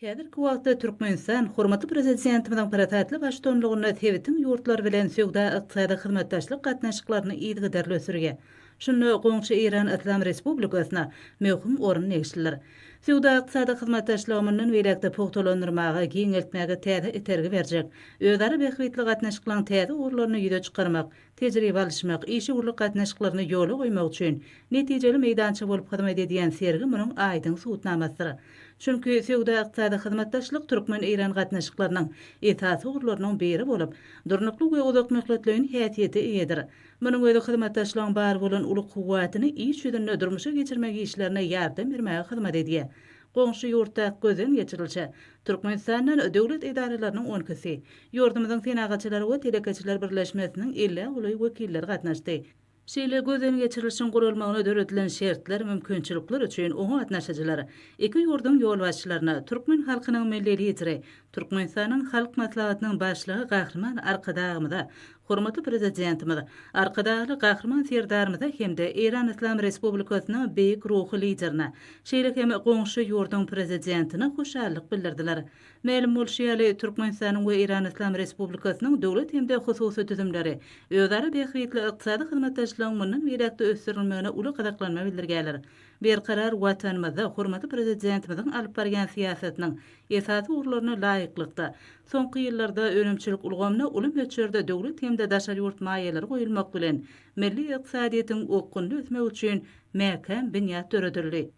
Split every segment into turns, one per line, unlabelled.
Häzirki wagtda Türkmenistan hormatly Prezidentimiziň parasatly baştutanlygynda sebitiň ýurtlary bilen söwda-ykdysady hyzmatdaşlyk gatnaşyklaryny yzygiderli ösdürýär. Şunda goňşy Eýran Yslam Respublikasyna möhüm orun degişlidir. Söwda-ykdysady hyzmatdaşlygy mundan beýläk-de pugtalandyrmaga, giňeltmäge täze itergi berjek, özara bähbitli gatnaşyklaryň täze ugurlaryny ýüze çykarmak, tejribe alyşmak, işewürlik gatnaşyklaryny ýola goýmak üçin netijeli meýdança bolup hyzmat edýän sergi munuň aýdyň subutnamasydyr. Çünki söwda-ykdysady hyzmatdaşlyk türkmen-eýran gatnaşyklarynyň esasy ugurlarynyň biri bolup, durnukly we uzakmöhletleýin häsiýete eýedir. Munuň özi hyzmatdaşlygyň bar bolan uly kuwwatyny iş ýüzünde durmuşa geçirmek işlerine ýardam bermäge hyzmat edýär. Goňşy ýurtdaky gözden geçirilişe Türkmenistanda döwlet edaralarynyň on ikisi, ýurdumyzyň Senagatçylar we telekeçiler birleşmesiniň ellä golaý wekilleri gatnaşdy. Şeýle gözden geçirilişiň guralmagyna döredilen şertler, mümkinçilikler üçin oňa gatnaşyjylar iki ýurduň ýolbaşçylaryna türkmen halkynyň Milli Lideri, Türkmenistanyň Halk Maslahatynyň Başlygy Gahryman Arkadagymyza Hormatly Prezidentimiz Arkadagly Gahryman Serdarymyza hem-de Eýran Yslam Respublikasynyň beýik ruhy Liderine, şeýle hem goňşy ýurduň Prezidentine hoşallyk bildirdiler. Mälim bolşy ýaly, Türkmenistanyň we Eýran Yslam Respublikasynyň döwlet hem-de hususy düzümleri özara bähbitli ykdysady hyzmatdaşlygyň mundan beýläk-de ösdürilmegine uly gyzyklanma bildirýärler. Berkarar Watanymyzda hormatly Prezidentimiziň alyp barýan syýasatynyň esasy ugurlaryna laýyklykda, soňky ýyllarda önümçilik ulgamyna uly möçberde döwlet hem-de daşary ýurt maýalary goýulmak bilen, milli ykdysadyýetiň okgunly ösmegi üçin mäkäm binýat döredildi.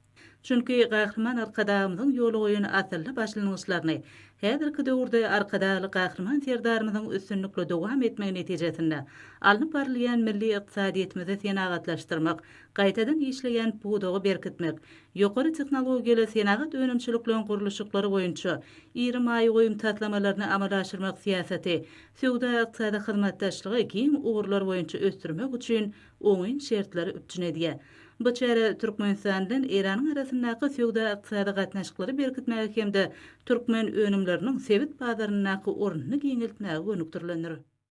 Çünki Gahryman Arkadagymyzyň ýola goýan asylly başlangyçlaryny häzirki döwürde Arkadagly Gahryman Serdarymyzyň üstünlikli dowam etmegi netijesinde alnyp barylýan milli ykdysadyýetimizi senagatlaşdyrmak, gaýtadan işleýän pudagy berkitmek, ýokary tehnologiýaly senagat önümçilikleýin gurluşyklary boýunça iri maýa goýum taslamalaryny amala aşyrmak syýasaty söwda-ykdysady hyzmatdaşlygy giň ugurlar boýunça ösdürmek üçin oňyn şertleri üpjün edýär. Bu çäre Türkmenistan bilen Eýranyň arasyndaky söwda-ykdysady gatnaşyklary berkitmäge hem-de türkmen önümleriniň sebit bazaryndaky ornuny giňeltmäge gönükdirilendir.